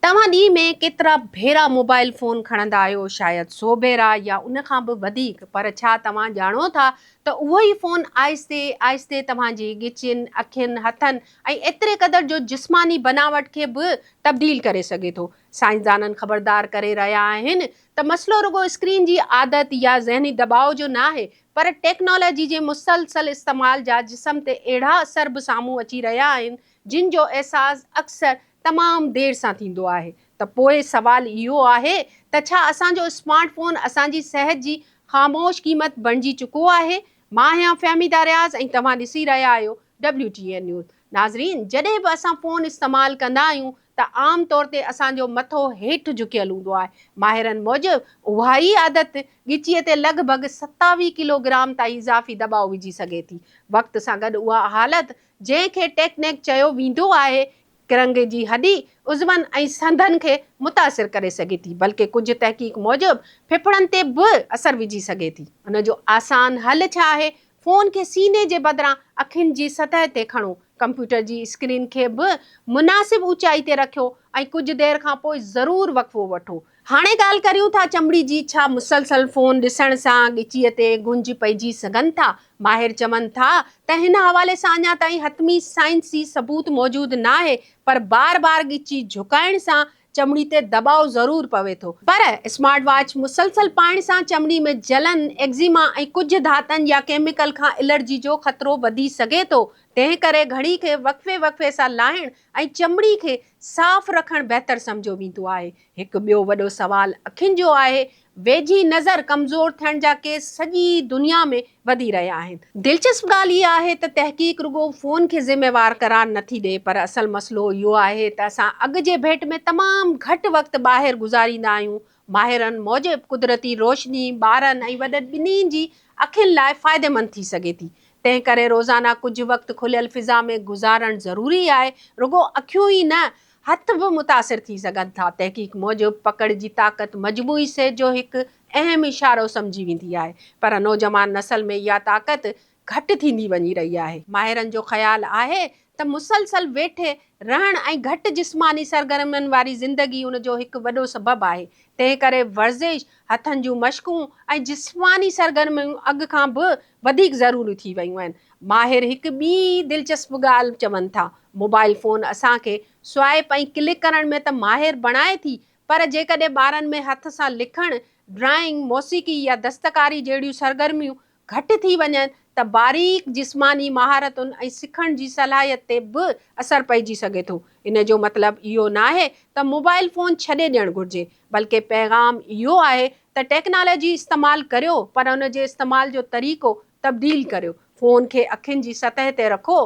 توهان ڏينهن ۾ ڪيترا ڀيرا موبائيل فون کڻندا آهيو؟ شايد سو ڀيرا يا ان کان به وڌيڪ. پر ڇا توهان ڄاڻو ٿا ته اهو ئي فون آهستي آهستي توهان جي ڳچين، اکين، هٿن ۽ ايتري قدر جو جسماني بناوٽ کي به تبديل ڪري سگهي ٿو. سائنسدانن خبردار ڪري رهيا آهن ته مسئلو رڳو اسڪرين جي عادت يا ذهني دٻاء جو ناهي پر ٽيڪنالاجي جي مسلسل استعمال جا جسم تي اهڙا اثر به سامهون اچي رهيا آهن جن جو احساس اڪثر تمام دير سان ٿيندو آهي ته پوء سوال اهو آهي ته ڇا اسان جو اسمارٽ فون اسان جي صحت جي خاموش قيمت بڻجي چڪو آهي؟ مان آهيان فهميده رياض ۽ توهان ڏسي رهيا آهيو WTN نيوز. ناظرين جڏهن به اسان فون استعمال ڪندا آهيون ته عام طور تي اسان جو مٿو هيٺ جهڪيل هوندو آهي. ماهرن موجب اها ئي عادت ڳچيء تي لڳ ڀڳ ستاويهه ڪلوگرام تائين اضافي دٻاء وجهي سگهي ٿي. وقت سان گڏ اها حالت جنهن کي ٽيڪنيڪ چيو ويندو آهي، ڪرنگهي جي هڏي، عضون ۽ سنڌن کي متاثر ڪري سگهي ٿي، بلڪه ڪجهه تحقيق موجب ڦڦڙن تي به اثر وجهي سگهي ٿي. ان جو آسان حل ڇا آهي؟ فون کي سيني جي بدران اکين جي سطح تي کڻو، ڪمپيوٽر جي اسڪرين کي به مناسب اوچائي تي رکيو ۽ ڪجهه دير کانپوء ضرور وقفو وٺو. هاڻي ڳالهه ڪريون ٿا چمڙي جي، ڇا مسلسل فون ڏسڻ سان ڳچيء تي گهنج پئجي سگهن ٿا؟ ماهر چون ٿا ته هن حوالي سان اڃا تائين حتمي سائنسي ثبوت موجود ناهي پر بار بار ڳچي جهڪائڻ سان چمڙي تي دٻاء ضرور پوي ٿو. پر اسمارٽ واچ مسلسل پائڻ سان چمڙي ۾ جلن، ايگزيما ۽ ڪجهه ڌاتن يا ڪيميڪل کان الرجي جو خطرو وڌي سگهي ٿو، تنهن ڪري گهڙي کي وقفي وقفي سان لاهڻ ۽ چمڙي کي صاف رکڻ بهتر سمجهيو ويندو آهي. هڪ ٻيو وڏو سوال اکين جو آهي. ويجهي نظر ڪمزور ٿيڻ جا ڪيس سڄي دنيا ۾ وڌي رهيا آهن. دلچسپ ڳالهه اها آهي ته تحقيق رڳو فون کي ذميوار قرار نه ٿي ڏئي پر اصل مسئلو اهو آهي ته اسان اڳ جي ڀيٽ ۾ تمام گهٽ وقت ٻاهر گذاريندا آهيون، ماهرن موجب قدرتي روشني ٻارن ۽ وڏن ٻنهي جي اکين لاء فائديمند ٿي سگهي ٿي، تنهن ڪري روزانه ڪجهه وقت کليل فضا ۾ گذارڻ ضروري آهي، رڳو اکيون ئي نه هٿ به متاثر ٿي سگهن ٿا، تحقيق موجب پڪڙ جي طاقت مجموعي صحت جو هڪ اهم اشارو سمجهي ويندي آهي، پر نوجوان نسل ۾ اها طاقت گهٽ ٿيندي وڃي رهي آهي. ماهرن جو خيال آهي ته مسلسل ويٺي رهڻ ۽ گهٽ جسماني سرگرمين واري زندگي ان جو هڪ وڏو سبب آهي، تنهن ڪري ورزش، هٿن جون مشقون ۽ جسماني سرگرميون اڳ کان به وڌيڪ ضروري ٿي ويون آهن. ماهر هڪ ٻي دلچسپ ڳالهه چون ٿا، موبائل فون اسان کي سوائپ ۽ ڪلڪ ڪرڻ ۾ ته ماهر بڻائي ٿي پر جيڪڏهن ٻارن ۾ هٿ سان لکڻ، ڊرائنگ، موسيقي يا دستڪاري جهڙيون سرگرميون گهٽ ٿي وڃن ته باريڪ جسماني مهارتن ۽ سکڻ جي صلاحيت تي به اثر پئجي سگهي ٿو. ان جو مطلب اهو ناهي ته موبائل فون ڇڏي ڏيڻ گهرجي، بلڪه پيغام اهو آهي ته ٽيڪنالاجي استعمال ڪريو پر ان جي استعمال جو طريقو تبديل ڪريو، فون کي اکين جي سطح تي رکو،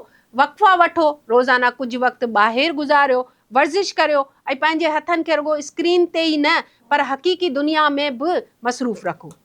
وقفا وٺو، روزانه ڪجهه وقت ٻاهر گذاريو، ورزش ڪريو ۽ پنهنجي هٿن کي رڳو اسڪرين تي ئي نه پر حقيقي دنيا ۾ به مصروف رکو.